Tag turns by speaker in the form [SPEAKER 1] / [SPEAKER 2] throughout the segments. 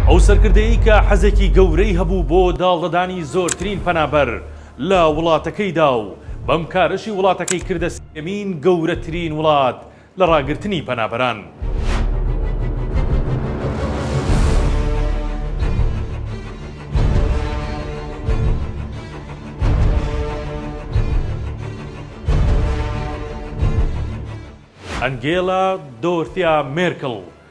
[SPEAKER 1] ئەو سەرکردەیەی کە حەزێکی گەورەی هەبوو بۆ داڵدەدانی زۆرترین پەنابەر لە وڵاتەکەیدا و بەم کارەشی وڵاتەکەی کردە سێیەمین گەورەترین وڵات لە ڕاگرتنی پەنابەران. ئەنگێلا دۆرثیا مێرکڵ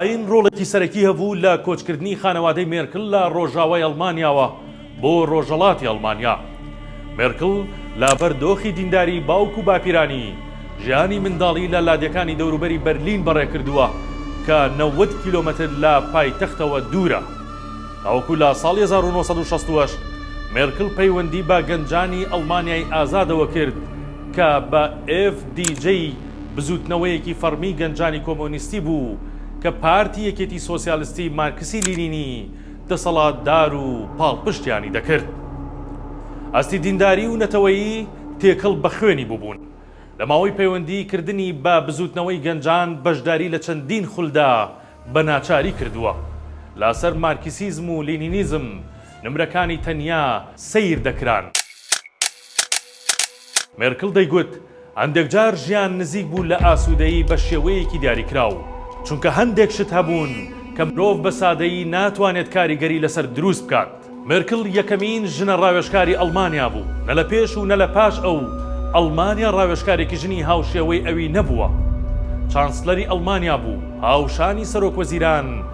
[SPEAKER 1] ئاین ڕۆڵێکی سەرەکی هەبوو لە کۆچکردنی خانەوادەی مێرکڵ لە ڕۆژاوای ئەڵمانیاوە بۆ ڕۆژەڵاتی ئەڵمانیا. مێرکڵ لەبەر دۆخی دینداری باوک و باپیرانی، ژیانی منداڵی لە لادێکانی دەوروبەری بەرلین بەڕێکردووە کە نەوەد کیلۆمەتر لە پایتەختەوە دوورە. تاوەکو لە ساڵی هەزار و نۆ سەد و شەست و هەشت مێرکڵ پەیوەندی بە گەنجانی ئەڵمانیای ئازادەوە کرد کە بە ئێف دی جەی بزووتنەوەیەکی فەڕمی گەنجانی کۆمۆنیستی بوو کە پارتی یەکێتی سۆسیالستی مارکسی لینینی دەسەڵاتدار و پاڵپشتیانی دەکرد. ئاستی دینداری و نەتەوەیی تێکەڵ بە خوێنی بووبوون. لە ماوەی پەیوەندیی کردنی بە بزووتنەوەی گەنجان بەشداری لە چەندین خولدا بە ناچاری کردووە. لاسەر مارکسیزم و لینینیزم نمرەکانی تەنیا سەیر دەکران. مێرکڵ دەیگوت، هەندێکجار ژیان نزیک بوو لە ئاسوودەیی بە شێوەیەکی دیاریکراو، چونکە هەندێک شت هەبوون کە مرۆڤ بە سادەیی ناتوانێت کاریگەری لەسەر دروست بکات. مێرکڵ یەکەمین ژنە ڕاوێژکاری ئەڵمانیا بوو، نە لە پێش و نە لە پاش ئەو، ئەڵمانیا ڕاوێژکارێکی ژنی هاوشێوەی ئەوی نەبووە. چانسلەری ئەڵمانیا بوو، هاوشانی سەرۆکوەزیران،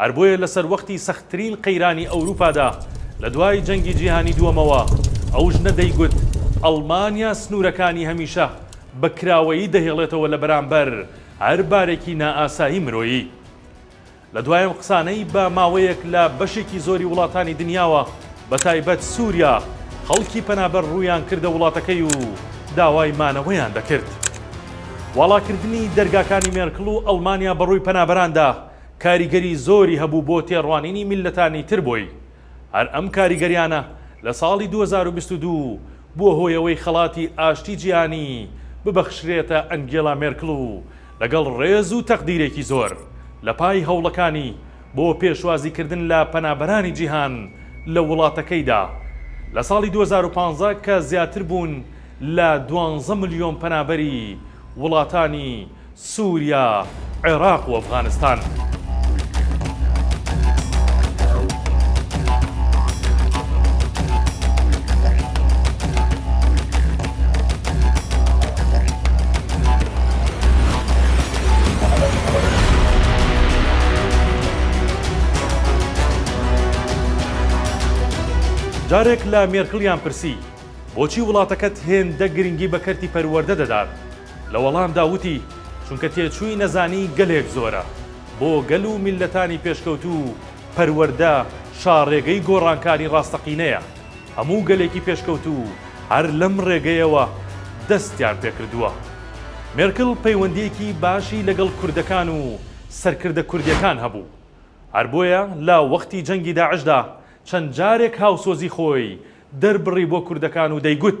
[SPEAKER 1] هەر بۆیە لە سەروەختی سەختترین قەیرانی ئەوروپادا لە دوای جەنگی جیهانی دووەمەوە، ئەو ژنە دەیگوت ئەڵمانیا سنوورەکانی هەمیشە بە کراوەیی دەهێڵێتەوە لە بەرامبەر هەر بارێکی نائاسایی مرۆیی. لە دوای ئەم قسانەی بە ماوەیەک لە بەشێکی زۆری وڵاتانی دنیاوە بە تایبەت سووریا خەڵکی پەنابەر ڕوویان کردە وڵاتەکەی و داوای مانەوەیان دەکرد. واڵاکردنی دەرگاکانی مێرکڵ و ئەڵمانیا بەڕووی پەنابەراندا، کاریگەری زۆری هەبوو بۆ تێڕوانینی میللەتانی تر بۆی، هەر ئەم کاریگەریانە لە ساڵی دوو هەزار و بیست و دوو بووە هۆی ئەوەی خەڵاتی ئاشتی جیهانی ببەخشرێتە ئەنگێلا مێرکڵ و لەگەڵ ڕێز و تەقدیرێکی زۆر لە پای هەوڵەکانی بۆ پێشوازی کردن لە پەنابەرانی جیهان لە وڵاتەکەیدا لە ساڵی دوو هەزار و پازدە کە زیاتر بوون لە دوانزە ملیۆن پەنابەری وڵاتانی سوریا، عێراق و ئەفغانستان. جارێک لە مێرکڵیان پرسی، بۆچی وڵاتەکەت هێندە گرنگی بە کەرتی پەروەردە دەدات؟ لە وەڵامدا وتی، چونکە تێچووی نەزانی گەلێک زۆرە، بۆ گەل و میللەتانی پێشکەوتوو پەروەردە شاڕێگەی گۆڕانکاری ڕاستەقینەیە، هەموو گەلێکی پێشکەوتوو هەر لەم ڕێگەیەوە دەستیان پێکردووە. مێرکل پەیوەندییەکی باشی لەگەڵ کوردەکان و سەرکردە کوردییەکان هەبوو، هەر بۆیە لە وەختی جەنگی داعشدا چەند جارێک هاوسۆزی خۆی دەربڕی بۆ کوردەکان و دەیگوت،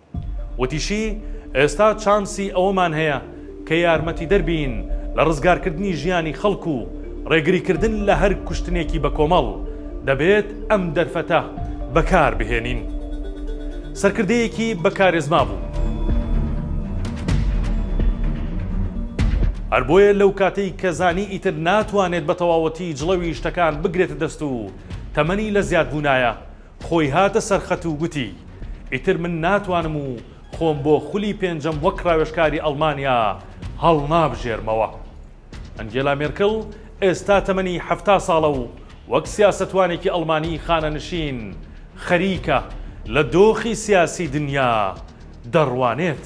[SPEAKER 1] وتیشی، ئێستا چانسی ئەوەمان هەیە کە یارمەتیدەر بین لە ڕزگارکردنی ژیانی خەڵک و ڕێگریکردن لە هەر کوشتنێکی بەکۆمەڵ، دەبێت ئەم دەرفەتە بەکاربهێنین. سەرکردەیەکی بە کارێزما بوو. هەر بۆیە لەو کاتەی کە زانی ئیتر ناتوانێت بە تەواوەتی جڵەوی شتەکان بگرێتە دەست و تەمەنی لە زیادبوونایە، خۆی هاتە سەر خەت و گوتی، ئیتر من ناتوانم و خۆم بۆ خولی پێنجەم وەک راوێژکاری ئەڵمانیا هەڵنابژێرمەوە. ئەنگێلا مێرکڵ ئێستا تەمەنی حەفتا ساڵە و وەک سیاسەتوانێکی ئەڵمانی خانەنشین خەریکە لە دۆخی سیاسی دنیا دەڕوانێت.